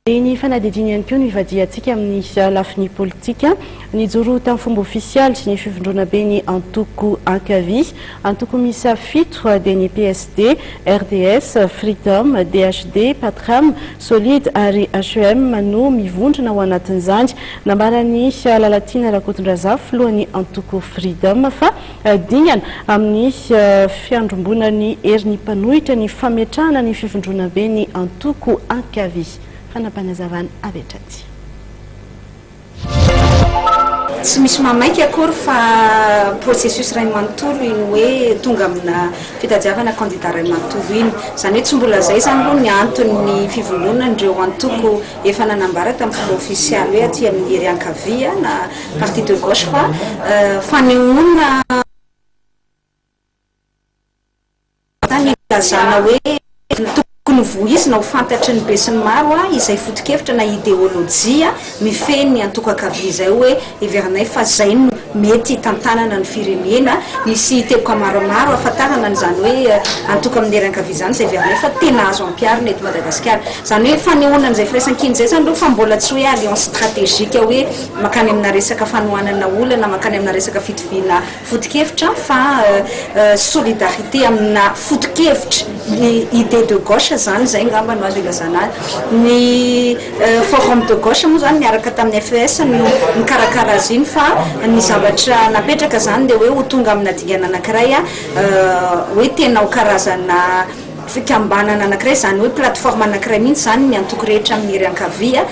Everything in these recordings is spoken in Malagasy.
Dia ny fanadihadiana ihany koa no ivadihantsika amin'ny lafiny politika. Nijoro tamin'ny fomba ofisialy ny fivondrona be ny antoko ankavia. Antoko miisa fito dia ny PSD, RDS, Freedom, DHD, Patrem, Solid ary HEM no mivondrona ao anatin'izany. Nambaran'i Lalatiana Rakotondrazafy, filohan'ny antoko Freedom fa. Dingana amin'ny fiandrombonan'ny herin'ny mpanohitra ny fametrahana ny fivondronambe ny antoko ankavia. Fanapanazavana avy hatrany. Tsy misy mamaika akory fa processus iray manontolo iny hoe tonga amina fitadiavana candidat iray manontolo iny. Izany hoe tsy mbola izay izany aloha ny anton'ny fivondronan'ireo antoko efa nanambara tamin'ny filoha ofisialy hoe aty amin'ny hery ankavia na Parti de gauche fa fanehoana ny ilazana hoe tokony voizina ho fantatry ny besinimaro izay fotokevitra na ideolojia mifehy ny antokakavia izay hoe heverinay fa izay no mety hitantanana ny firenena. Misy teboka maromaro hahafantarana an'izany hoe antoko amin'ny hery ankavia izany izay heverinay fa tena azo ampiharina eto Madagasikara. Izany hoe fanehoana an'izay firaisankina izay izany aloha fa mbola tsy hoe alliance stratégique hoe. mankany amina resaka fanohanana olana, mankany amina resaka fitoviana foto-kevitra fa solidarité amina foto-kevitra, ny idée de gauche izany, izay angamba no azo ilazana azy. Ny forum de gauche moa izany niaraka tamin'ny FES no nikarakara azy iny fa ny zavatra napetraka izany dia hoe ho tonga amina dingana anankiray hoe tena ho karazana fikambanana anankiray, izany hoe plateforme anankiray mihitsy izany ny antoko rehetra amin'ny hery ankavia.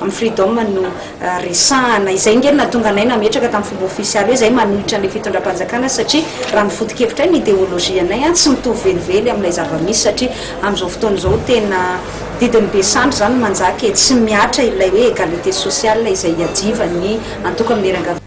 Amin'ny Freedom no resahana. Izay ange no nahatonga anay nametraka tamin'ny fomba ofisialy hoe izay manohitra an'ilay fitondram-panjakana satria raha ny foto-kevitray, ny ideolojianay, tsy mitovy velively amin'ilay zava-misy satria amin'izao fotoana izao tena didin'ny be sandry izany no manjaka e, tsy mihatra ilay hoe égalité sociale izay iadivan'ny antoko amin'ny hery ankavanana.